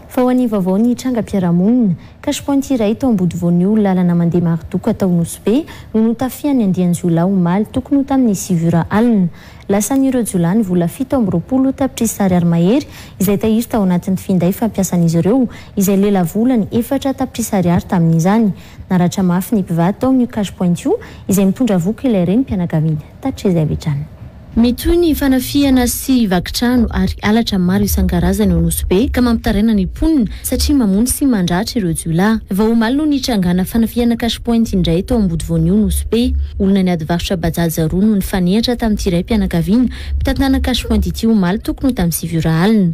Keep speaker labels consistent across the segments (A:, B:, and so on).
A: Fa ho an'ny vaovao ny trangam-piarahamonina, cash point iray tao Ambodivonio, lalana mandeha Marodoka tao Nosy-Be, no notafihan'ny andian-jiolahy omaly tokony ho tamin'ny sivy ora alina. Lasan'ireo jiolahy ny vola fito amby roapolo tapitrisa ariary mahery izay tahiry tao anatin'ny finday fampiasan'izy ireo izay lelavolany efatra tapitrisa ariary tamin'izany. Naratra mafy ny mpivady tao amin'io cash point io izay mitondra voky ilay renim-pianakaviana. Tachie izay avy hatrany. Mitohy ny fanafihana sy vakitrano ary halatra maro isan-karazany ao Nosy Be ka mampitaraina ny mponina satria mamono sy mandratra ireo jiolahy. Vao omaly no nitrangana fanafihana cash point indray tao Ambody Voanio Nosy Be. Olona niady varotra Bajaj roa no nifanehatra tamin'ity raim-pianakaviana mpitantana cash point ity omaly tokony ho tamin'ny sivy ora alina.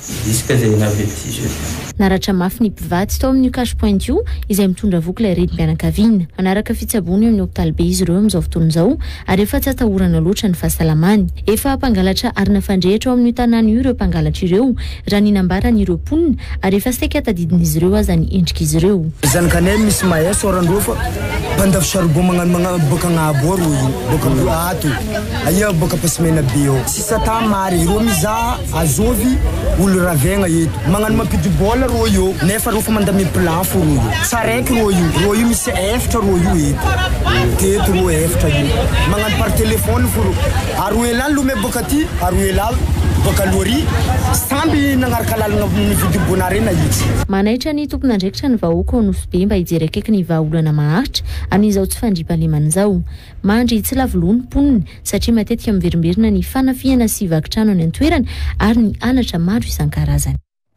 B: Tsy diso kay zay nilaza eto sisa io. Naratra mafy ny
A: mpivady tao amin'io cash point io izay mitondra voky ilay renim-pianakaviana. Manaraka fitsaboana eo amin'ny hopitaly be izy ireo amin'izao fotoana izao ary efa tsy atahorana loatra ny fahasalamany. Efa mpangalatra arina fandrehitra ao amin'io tanàna io ireo mpangalatra ireo raha ny nambaran'ireo mponina ary efa saika tadidin'izy ireo aza ny endrik'izy ireo. Zanak'Anel misy Maya
C: Soarandoha fa mpandafo charbon magnano magnano boaka Agnahabory hoy io boaka Ato aia boaka Ampasimena be eo. Sisa tamy Mary ireo mizaha Azovy olo ravegna eto magnano mampidi bola rô io nefa rô fa mandamia plat fô rô io tsara eky rô io rô io misy efitra rô io eto teto rô efitra io magnano par telefony fô rô aroa elaly lomay boka aty aroa elaly boka aloha ary samby nagnaraka lalagna mividy bona re nahitsy. Manaitra ny tompon'andraikitra
A: ny vahoaka ao Nosy Be mba hijery akaiky ny vahaolana maharitra amin'izao tsy fandriampahalemana izao. Mandry tsy lavo loha ny mponina satria matetika miverimberina ny fanafihana sy vaky trano any an-toerana ary ny halatra maro isan-karazany.